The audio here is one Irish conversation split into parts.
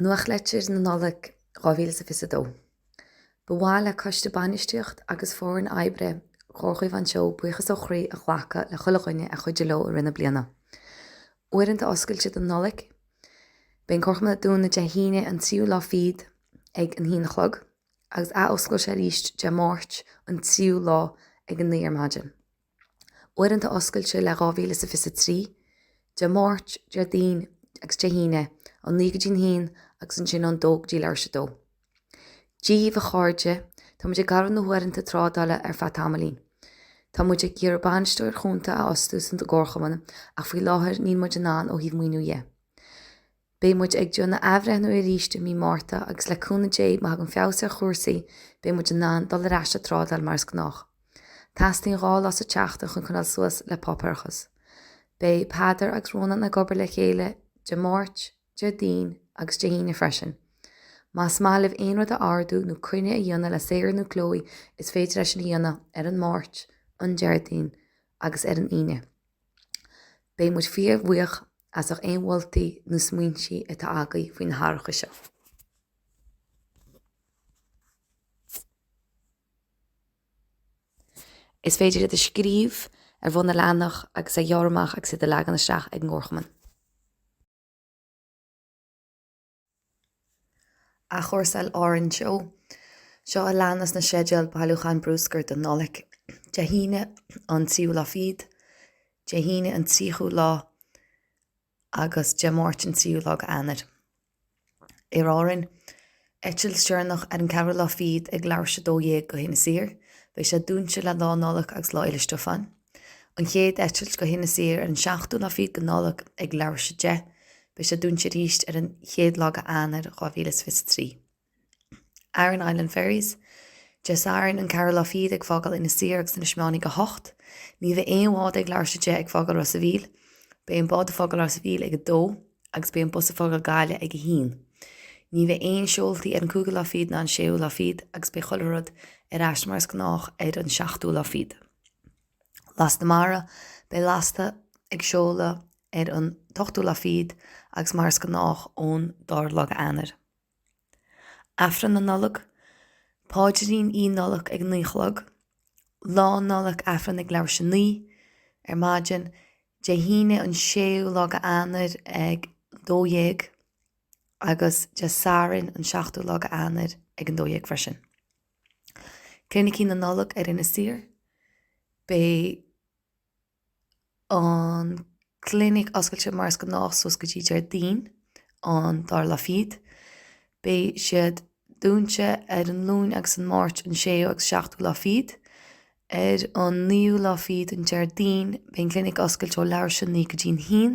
Nuachtlitir na Nollag 2022 Ba mhaith le Coiste Bainistíocht agus Foireann Oibre Chomhar Chaomhán Teo buíochas ó chroí a ghlacadh le chuile dhuine a chuidigh leo i rith na bliana. Uaireanta Oscailte don Nollaig Beidh an Comharchumann dúnta Dé hAoine an 3ú lá fichead ag an haon a chlog. agus athoscailte arís Dé Máirt, an tríú lá ag a naoi ar maidin. Uaireanta oscailte le 2023, Dé Máirt, Déardaoin agus Dé hAoine, ón naoi go dtí an haon agus ansin ón dó go dtí leathuair tar éis a dó. Dia dhaoibh, a chairde, tá muid ag gearradh na huaireanta trádála ar feadh tamaillín. Tá muid ag iarraidh bainisteoir chúnta a fhostú san don gcomharchumann ach faoi láthair níl muid in ann ó thaobh maoiniú dhe. Beidh muid ag déanamh athbhreithniú arís i mí Márta agus le cúnamh Dé, má thagann feabhas ar chúrsaí, beidh muid in ann dul ar ais ag trádáil mar is gnách. Teastaíonn dhá lá sa tseachtain chun coinneáil suas le páipéarachas. Beidh Peadar agus Rónán ag obair le chéile Dé Máirt, Déardaoin agus Dé hAoine freisin. Más maith libh aon rud a ordú nó coinne a dhéanamh le Sarah nó Chloe is féidir é sin a dhéanamh ar an Máirt, an Déardaoin agus ar an Aoine. Beidh muid fíor bhuíoch as ucht aon mholtaí nó smaointí atá agaibh faoi na hathracha seo. Is féidir iad a scríobh ar bhun an leathanach agus a ghearradh amach agus iad a leagan isteach ag an gComharchumann. Athchúrsáil Árann Teo. Seo a leanas na sceideal bailiúcháin bruscair don Nollaig, Dé hAoine an 3ú lá fichead, Dé hAoine an 30ú lá agus Dé Máirt an 3ú lá de Eanáir. Aer Árann, Eitilt deireanach ar an 4ú lá fichead ag leathuair tar éis 12 go hInis Oírr. Beidh sé dúinte le Lá Nollag agus Lá Fhéile Stiofáin. An chéad eitilt go hInis Oírr ar an 7ú lá fichead de Nollaig ag leathuair tar éis 10. Beidh sé dúinte arís ar an 1ú lá de Eanáir 2023. Aran Island Ferries, Dé Sathairn an 4ú lá fichead ag fágáil Inis Oírr agus Inis Meáin ag 8:00. Ní bheidh aon bhád ag leathuair tar éis 10 ag fágáil Ros a' Mhíl. Beidh an bád ag fágáil Ros a' Mhíl ag 2:00 agus beidh an bus ag fágáil Gaillimh ag 1:00. Ní bheidh aon seoltaí ar an 5ú lá fichead ná an 6ú lá fichead agus beidh chuile rud ar ais mar is gnách ar an 7ú lá fichead. Lasta Mara, Beidh Lasta ag seoladh ar an t-ochtú lá fichead agus mar is gnách ón dara lá de Eanáir. Aifreann na Nollag, Paidrín Oíche Nollag ag naoi a chlog. Lá Nollag, Aifreann ag leathuair tar éis 9 ar maidin, Dé hAoine an séú lá de Eanáir ag an dó dhéag agus Dé Sathairn an seachtú lá de Eanáir ag an dó dhéag freisin. Clinicí na Nollag ar Inis Oírr Beidh an clinic oscailte mar is gnách suas go dtí Déardaoin an dara lá fichead. Beidh siad dúinte ar an Luan agus an Máirt an séú agus seachtú lá fichead. Ar an naoú lá fichead, an Déardaoin, beidh an clinic oscailte ó leathuair tar éis a naoi go dtí an haon.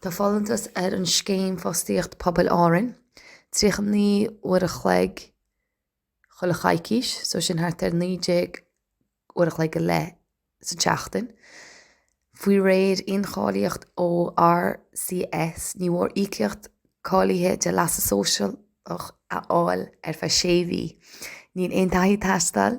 Tá folúntas ar an Scéim Fostaíocht Pobail Árainn 39 uair a chloig chuile choicís, so sin thart ar 19 uair a chloig go leith sa tseachtain, faoi réir incháilíocht ó RCS. Ní mhór íocaíocht cáilithe de leasa sóisialach a fháil ar feadh 6 mhí. Níl aon taithí ag teastáil.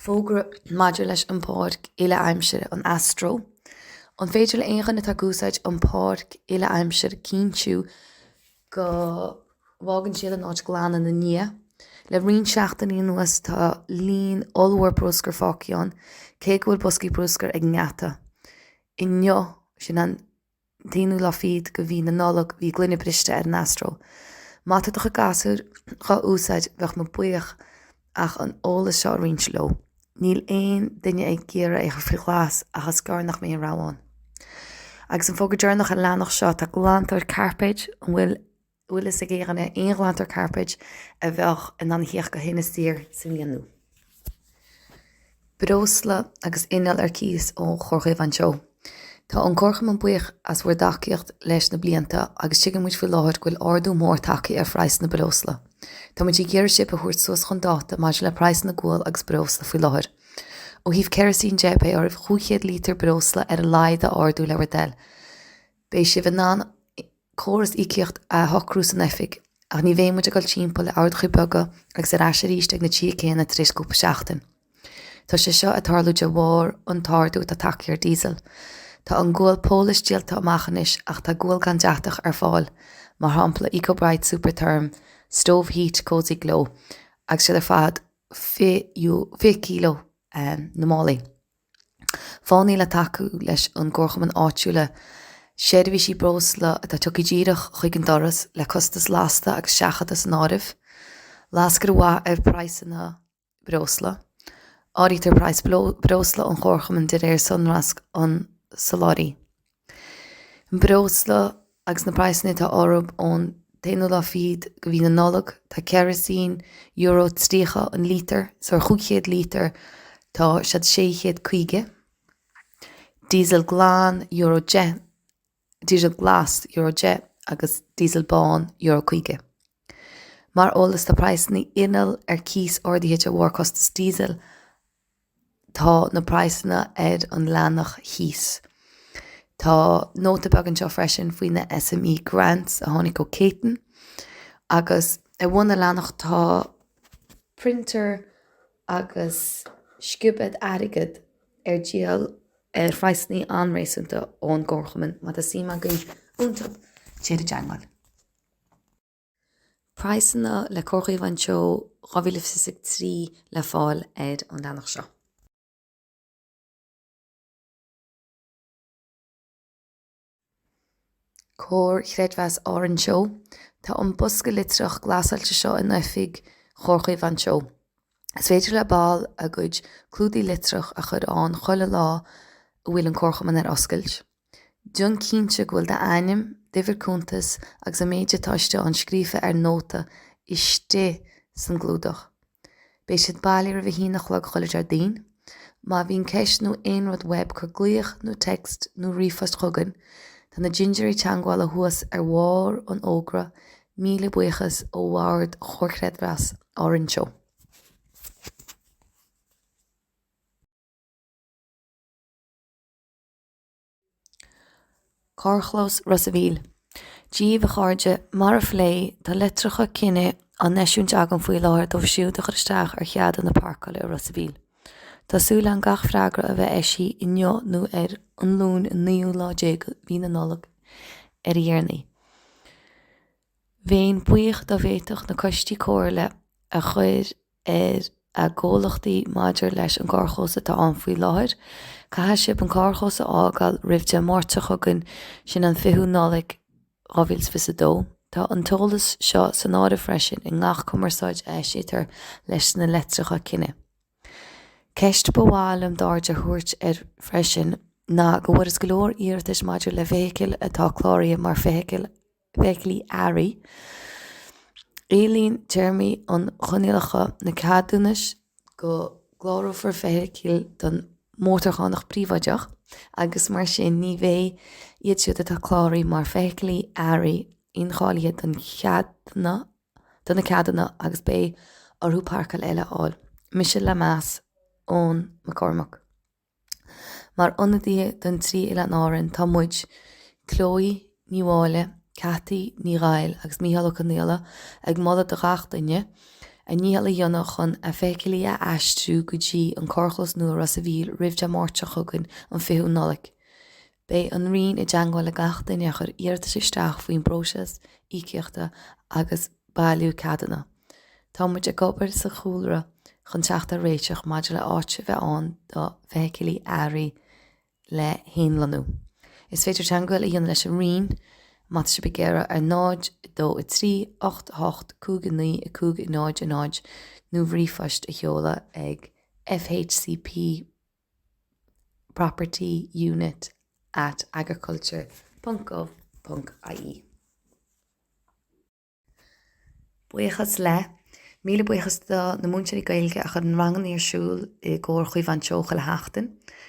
Fógra maidir leis an bPáirc Uile-Aimsire, an Astro. An féidir le haon dhuine atá ag úsáid an Pháirc Uile-Aimsire cinntiú go bhfágann siad an áit glan ina ndiaidh? Le roinnt seachtainí anuas tá líon ollmhór bruscair fágtha ann, cé go bhfuil boscaí bruscair ag an ngeata inniu, sin an. t-aonú lá fichead de mhí na Nollag bhí gloine briste ar an Astro. Má tá do chuid gasúir dhá úsáid bheadh muid buíoch ach an eolas seo a roinnt leo. Níl aon duine ag iarraidh é a chur faoi ghlas ach is gearr nach mbeidh aon rogha ann. Agus an fógra deireanach ar an leathanach seo, tá glantóir cairpéid an bhfuil? bhfuil fhios ag éinne ar aon ghlantóir cairpéid a bheadh in ann theacht go hInis Oírr sa mbliain nua. Breosla agus inneall ar cíos ó Chomhar Chaomhán Teo. Tá an Comharchumann buíoch as bhur dtacaíocht leis na blianta agus tuigeann muid faoi láthair go bhfuil ardú mór tagtha ar phraghsanna breosla. Tá muid ag iarraidh sibh a thabhairt suas chun dáta maidir le praghsanna gual agus breosla faoi láthair. Ó thaobh ceirisín de, beidh oraibh 500 lítear breosla ar a laghad a ordú le bhur dtoil. Beidh sibh in ann córas íocaíocht a shocrú san oifig, ach ní bheidh muid ag dul timpeall le orduithe beaga agus ar ais arís ag na tithe céanna tar éis cúpla seachtain. Tá sé seo ag tarlú de bharr an t-ardú atá tagtha ar diesel. Tá an gual Polish díolta amach anois ach tá gual gan deatach ar fáil, mar shampla Ecobrite Supertherm Stove Heat Cosy Glow agus siad ar fad 20 kilo na málaí. Fáthannaí le tacú leis an gcomharchumann áitiúla seirbhísí breosla atá tugtha díreach chuig an doras le costas lasta agus seachadta san áireamh. Lascaine mhaith ar phraghsanna breosla. Áirítear praghas breosla an chomharchumainn de réir sonrasc an tsoláthraí. An breosla agus na praghsanna atá orthub ón t-aonú lá fichead go mhí na Nollag, tá kerosene, euro 30 an lítear, so ar chúig chéad lítear tá siad sé chéad caoga. Diesel glan, euro 10, diesel glas, euro 10, agus diesel bán, euro 50. Mar eolas tá praghsanna inneall ar cíos ardaithe de bharr costas diesel, Tá na praghsanna ar an leathanach thíos. Tá nóta beag anseo freisin faoi na SME Grants a tháinig ó Céitinn. Agus ar bhun na leathanach tá printer agus sciobad airgid ar díol ar phraghsanna an-réasúnta ón gComharchumann. Má tá suim agaibh iontub, téigí i dteagmháil. Praghsanna le Comhar Chaomháin Teo 2023 le fáil ar an leathanach seo. Comhar Chreidmheas Árann Teo. Tá an bosca litreach glasáilte seo in oifig Chomhar Chaomháin Teo. Is féidir le baill a gcuid clúdaigh litreach a chur ann chuile lá a bhfuil an comharchumann ar oscailt. Déan cinnte go bhfuil d'ainm, d'uimhir cuntais agus an méid atá istigh ann scríofa ar nóta istigh san gclúdach. Beidh siad bailithe roimh a haon a chlog chuile Deardaoin. Má bhíonn ceist nó aon rud uaibh cur glaoch nó text nó ríomhphost chugainn. Tá na dintiúirí teangabhála thuas ar bharr an fhógra. Míle buíochas ó Bhord Chomhar Chreidmheas Árann Teo. Carrchlós Ros a' Mhíl. Díbh, a chairde, mar a phléadh, tá litreacha cinnidh á n-eisiúint agam faoi láthair dóibh siúd a chuir isteach ar cheadúnais pháirceála i Ros a' Mhíl. Tá súil agam gach freagra a bheith eisithe inniu nó ar an Luain an naoú lá déag mhí na Nollag ar a dhéarnaí. Bhéinn buíoch dá bhféadfadh na coistí comhairle a chuir ar a gcomhlachtaí maidir leis an gcarrchlós atá ann faoi láthair. Caithfidh sibh an carrchlós a fhágáil roimh Dé Máirt seo chugainn, sin an 20ú Nollaig 2022. Tá an t-eolas seo san áireamh freisin i ngach cumarsáid a eisítear leis na leitreacha cinnidh. Ceist ba mhaith liom d'aird a thabhairt air freisin ná go bhfuarthas go leor iarratas maidir le feithicil atá cláraithe mar feithicil feithiclí earraí. Éilíonn téarmaí agus coinníollacha na ceadúnais go gclárófar feithicil don mhótarchánach príobháideach agus mar sin ní bheidh iad siúd atá cláraithe mar feithiclí earraí incháilithe don cheadna, do na ceadúna agus beidh orthu páirceáil eile a fháil. Mise le meas, Eoin Mac Cormaic. Mar ionadaithe don trí Oileán Árainn tá muid, Chloe Ní Mháille, Cathy Ní Ghoill agus Micheál Ó Conaola ag moladh do gach duine, a ndícheall a dhéanamh chun a bhfeithicilí a aistriú go dtí an carrchlós nua i Ros a' Mhíl roimh Dé Máirt seo chugainn an 20ú Nollaig. Beidh an Roinn i dteangmháil le gach duine a chuir iarratas isteach faoin bpróiseas íocaíochta agus bailiú ceadanna. Tá muid ag obair sa chúlra chun teacht ar réiteach maidir le háit a bheith ann do Feithicilí Earraí le lonnú. Is féidir teangmháil a dhéanamh leis an Roinn má tá sibh ag iarraidh ar 0 2 3 8 8 5 9 5 0 0 nó ríomhphost a sheoladh ag fhcp. property unit at agriculture.gov.ie. Buíochas le Míle buíochas do na múinteoirí Gaeilge a chuireann ranganna ar siúl i gComhar Caomhán Teo chuile sheachtain.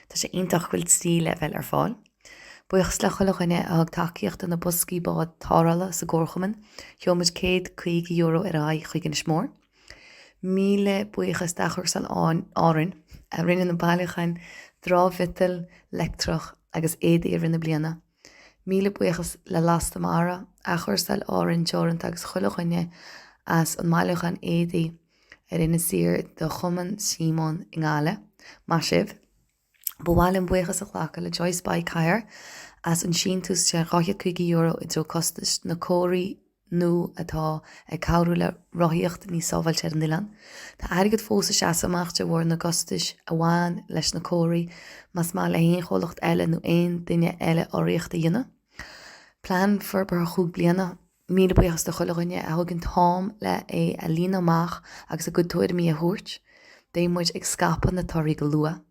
Tá sé iontach go bhfuil trí leibhéal ar fáil. Buíochas le chuile dhuine a thug tacaíocht do na boscaí bád tarrthála sa gComharchumann. Chuir muid céad caoga euro ar aghaidh chuig Inis Mór. Míle buíochas d'Athchúrsáil Árainn a rinne na bailiúcháin dramh-mhiotail, leictreach agus éadaí i rith na bliana. Míle buíochas le Lasta Mara, Athchúrsáil Árainn Teoranta agus chuile dhuine as an mbailiúchán éadaí ar Inis Oírr do Chumann Síomóin i nGaillimh. Maith sibh! Ba mhaith linn buíochas a ghlacadh le Joyce Bike Hire as an síntiús de €250 i dtreo costais na comharthaí nua atá ag cabhrú le rothaíocht níos sábháilte ar an oileán. Tá airgead fós ag seasamh amach de bharr na gcostais a bhain leis na comharthaí. Más mhaith le haon chomhlacht eile nó aon duine eile urraíocht a dhéanamh, Plean Forbartha Chúig Bliana, Míle buíochas le chuile dhuine a thóg an t-am le é a líonadh amach agus a gcuid tuairimí a thabhairt. Beidh muid ag scaipeadh na torthaí go luath.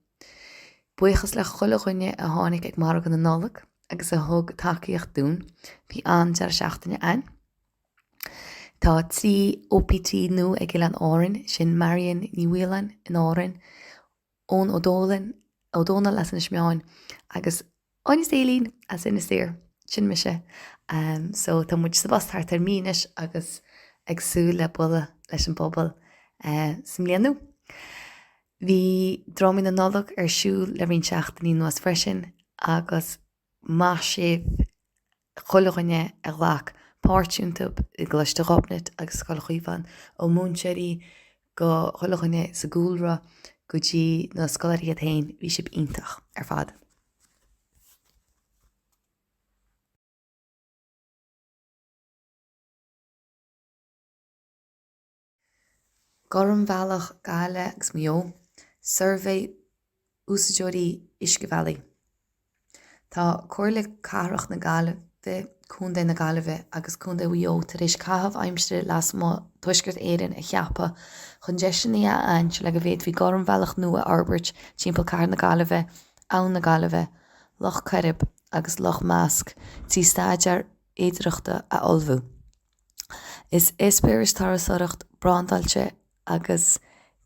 Buíochas le chuile dhuine a tháinig ag Margadh na Nollag agus a thug tacaíocht dúinn. Bhí an-deireadh seachtaine againn. Tá trí OPT nua ag Oileáin Árainn, sin Marion Ní Mhaoláin in Árainn, Eoin Ó Dólain, Ó Dónaill as Inis Meáin agus Áine Staleen as Inis Oírr. Sin mise. So tá muid sa bpost thart ar mí anois agus ag súil le bualadh leis an bpobal sa mbliain nua. Bhí Drámaí na Nollag ar siúl le roinnt seachtainí anuas freisin agus Maith sibh chuile dhuine a ghlac páirt iontu, i gColáiste Ghobnait agus Scoil Chaomhán, ó múinteoirí go chuile dhuine sa gcúlra go dtí na scoláirí iad féin, bhí sibh iontach ar fad. Gormbhealach na Gaillimhe agus Mhaigh Eo, Suirbhé Úsáideoirí Uiscebhealaí. Tá Comhairle Cathrach na Gaillimhe, Contae na Gaillimhe agus Contae Mhaigh Eo tar éis caitheamh aimsire lasmuigh Tuaisceart Éireann a cheapadh chun deiseanna a aithint le go bhféadfaí gormbhealach nua a fhorbairt timpeall Cathair na Gaillimhe, Abhainn na Gaillimhe, Loch Coirib agus Loch Measc trí staidéar féidearthachta a ullmhú. Is eispéiris turasóireachta brandáilte agus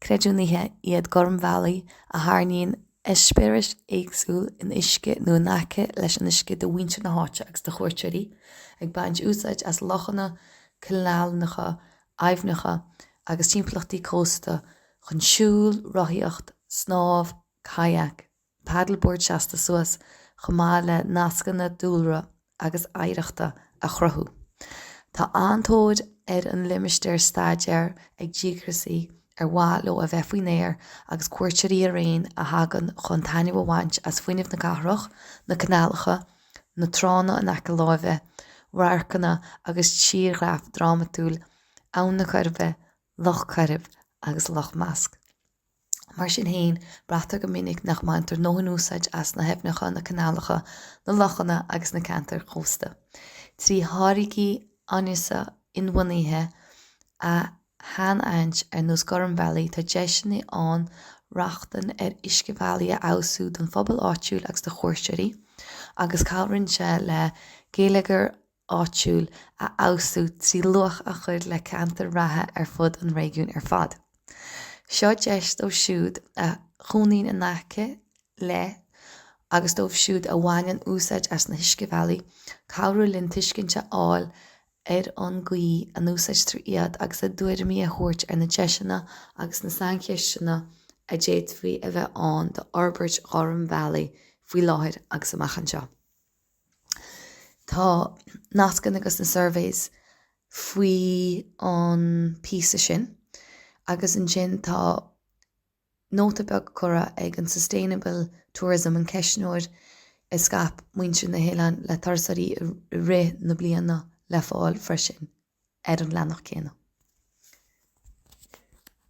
creidiúnaithe iad Gormbhealaí a thairgeann eispéiris éagsúla in uisce nó in aice leis an uisce do mhuintir na háite agus do chuairteoirí, ag baint úsáid as lochanna, canálacha, aibhneacha agus timpeallachtaí cósta chun siúl, rothaíocht, snámh, kayak. paddleboard seasta suas chomh maith le nascanna dúlra agus oidhreachta a chruthú. Tá an-tóir ar an limistéar staidéir ag díograsaí ar mhaith leo a bheith faoin aer agus cuairteoirí araon a thagann chun taitneamh a bhaint as fuinneamh na cathrach, na canálacha, na tránna in aice láimhe, radharcanna agus tírdhreach drámatúil Abhainn na Coiribe, Loch Coirib agus Loch Measc. Mar sin féin, braitear go minic nach mbaintear dóthain úsáid as na haibhneacha, na canálacha, na lochanna agus na ceantair chósta trí tháirgí áineasa inbhuanaithe a shainaithint, ar nós Gormbhealaí. Tá deiseanna ann rochtain ar uiscebhealaí a fheabhsú don phobal áitiúil agus do chuairteoirí, agus cabhraíonn sé le geilleagar áitiúil a fheabhsú trí luach a chur le ceantair reatha ar fud an réigiúin ar fad. Seo deis dóibh siúd a chónaíonn in aice le agus dóibh siúd a bhaineann úsáid as na huiscebhealaí cabhrú linn tuiscint a fháil ar an gcaoi a n-úsáidtear iad agus a dtuairimí a thabhairt ar na deiseanna agus na saincheisteanna a d'fhéadfadh a bheith ann d'fhorbairt ghormbhealaí faoi láthair agus amach anseo. Tá nascanna ag na surveys faoi an píosa sin agus ansin tá nóta beag curtha ag an Sustainable Tourism an ceistneoir a scaip muintir na n-oileán le turasóirí i rith na bliana le fáil freisin ar an leathnach céanna.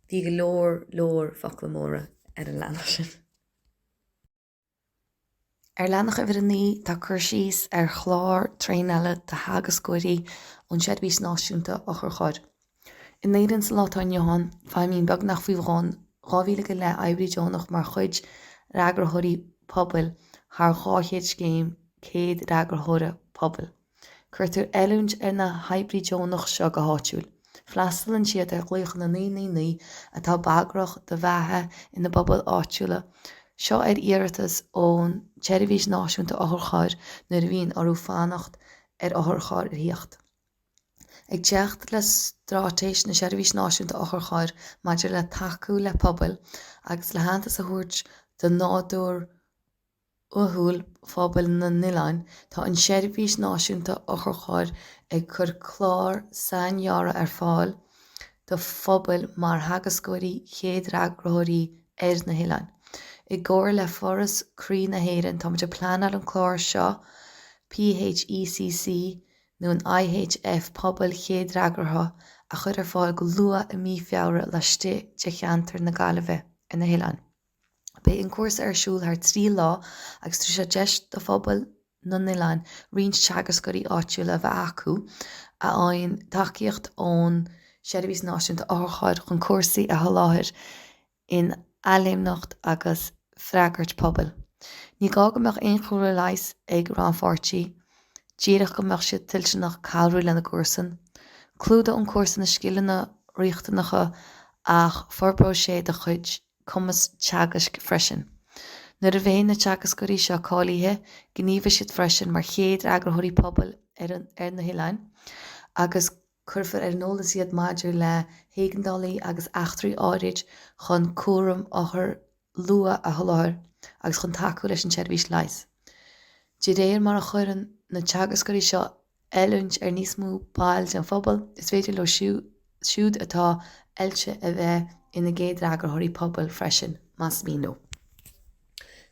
Bhí go leor leor focla móra ar an leathnach sin. Ar Leathanach uimhir a naoi tá cur síos ar chlár traenála do theagascóirí ón tSeirbhís Náisiúnta Otharcharr. In Éirinn sa lá atá inniu ann, feidhmíonn beagnach faoi bhun dhá mhíle go leith oibrí deonach mar chuid d'fhreagróirí pobail thar dhá chéad scéim céad fhreagróirí pobail. Cuirtear oiliúint ar na hoibrithe deonacha seo go háitiúil. Freastalann siad ar ghlaochanna naoi naoi naoi atá bagrach do bheatha ina bpobail áitiúla, seo ar iarratas ón tSeirbhís Náisiúnta Otharchairr nuair a bhíonn orthu fanacht ar otharcharr ar thíocht. Ag teacht le straitéis na Seirbhíse Náisiúnta Otharchairr maidir le tacú le pobail agus le haitheantas a thabhairt do nádúr uathúil phobail na n-oileán, tá an tSeirbhís Náisiúnta Otharcharr ag cur clár saincheaptha ar fáil do phobail mar theagascóirí, chéadfhreagarthóirí ar na hoileáin. I gcomhar le Foras Croí na hÉireann, táimid ag pleanáil an clár seo PHECC nó an IHF, Pobail Chéadfhreagartha, a chur ar fáil go luath i mí Feabhra laistigh de Cheantar na Gaillimhe ar na hoileáin. Beidh an cúrsa ar siúl thar trí lá agus tabharfaidh sé deis do phobail na n-oileán roinnt teagascóirí áitiúla a bheith acu a fhaigheann tacaíocht ón Seirbhís Náisiúnta Otharcharr chun cúrsaí a sholáthar in athléimneacht agus freagairt pobail. Ní gá go mbeadh aon chúlra leighis ag rannpháirtí, díreach go mbeadh siad toilteanach cabhrú lena gcomharsan. Clúdóidh an cúrsa na scileanna riachtanacha agus forbróidh sé do chuid. cumas teagaisc freisin. Nuair a bheidh na teagascóirí seo cáilithe, gníomhóidh siad freisin mar chéadfhreagarthóirí pobail ar na hoileáin agus cuirfear ar an eolas iad maidir le héigeandálaí agus eachtraí áirid chun cúram othar luath a sholáthar agus chun tacú leis an tseirbhís leighis. De réir mar a chuireann na teagascóirí seo oiliúint ar níos mó baill den phobal, is féidir leo siúd atá oilte a bheith ina gcéadfhreagarthóirí pobail freisin, más mian leo.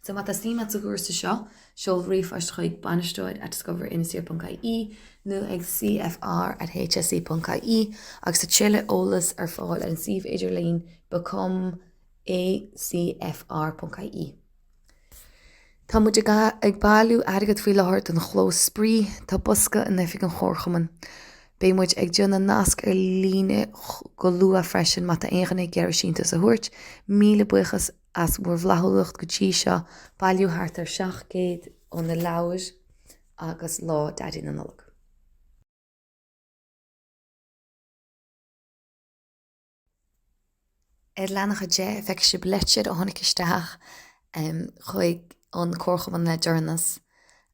So má tá suim agat sa chúrsa seo, seol ríomhphost chuig, bainisteoir at discoverinisoirr.ie nó ag cfr at hse.ie agus tá tuilleadh eolais ar fáil ar an suíomh idirlín become a cfr.ie. Tá muid ag bailiú airgid faoi láthair don chlós spraoi. Tá bosca in oifig an chomharchumainn. Beidh muid ag déanamh nasc ar líne go luath freisin má tá aon dhuine ag iarraidh síntiús a thabhairt. Míle buíochas as bhur bhflaithiúlacht go dtí seo. Bailíodh thart ar 700 ó na leabhair agus Lá Daidí na Nollag. Ar leathanach 10 feicfidh sibh leitir a tháinig isteach chuig an Comharchumann le deireanas.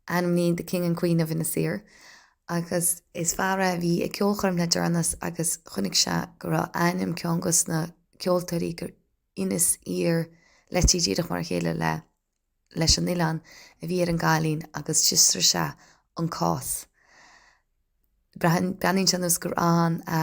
ainmnithe The King and Queen of Inis Oírr agus is fear é a bhí ag ceolchoirm le deireanas agus chonaic sé go raibh ainm ceann dos na ceoltóirí gur Inis Oírr litrithe díreach mar a chéile leis an oileán a bhí ar an gcailín agus d'fhiosraigh sé an cás. Breathnaíonn sé ar nós gur ann a.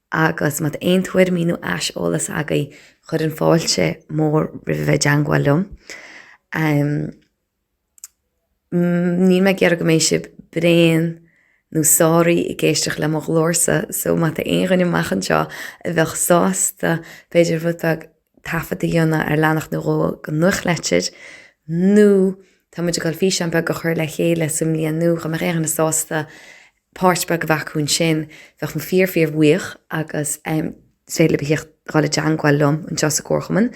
Agus má tá aon tuairimí nó aiseolas agaibh chuirfinn fáilte mór roimh a bheith i dteangmháil liom. Níl mé ag iarraidh go mbeidh sibh bréan nó sáraithe ag éisteacht le mo ghlórsa so má tá aon dhuine amach anseo a bheadh sásta b'fhéidir rud beag taifead a dhéanamh ar leathanach nó dhó don Nuachtlitir nó tá muid ag dul físeán beag a chur le chéile sa mbliain nua dá mbeadh aon dhuine sásta páirt beag a bheith acu ansin, bheadh mé fíor, fíor bhuíoch agus is féidir libh a thíocht a dhul i dteangmháil liom anseo sa gcomharchumann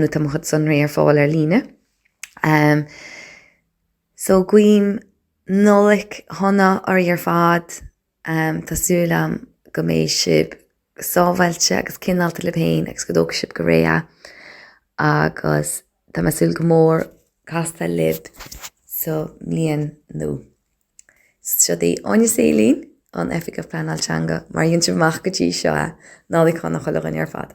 nó tá mo chuid sonraí ar fáil ar líne. So guím Nollaig shona oraibh ar fad, tá súil agam go mbeidh sibh sábháilte agus cineálta libh féin agus go dtógfaidh sibh go réidh agus tá mé ag súil go mór castáil libh sa mbliain nua. Seod í Áine Seelin, an Oifigeach Pleanáil Teanga, mara dhein sibh amach go dtí seo é, Nollaig Shona chuile dhuine ar fad.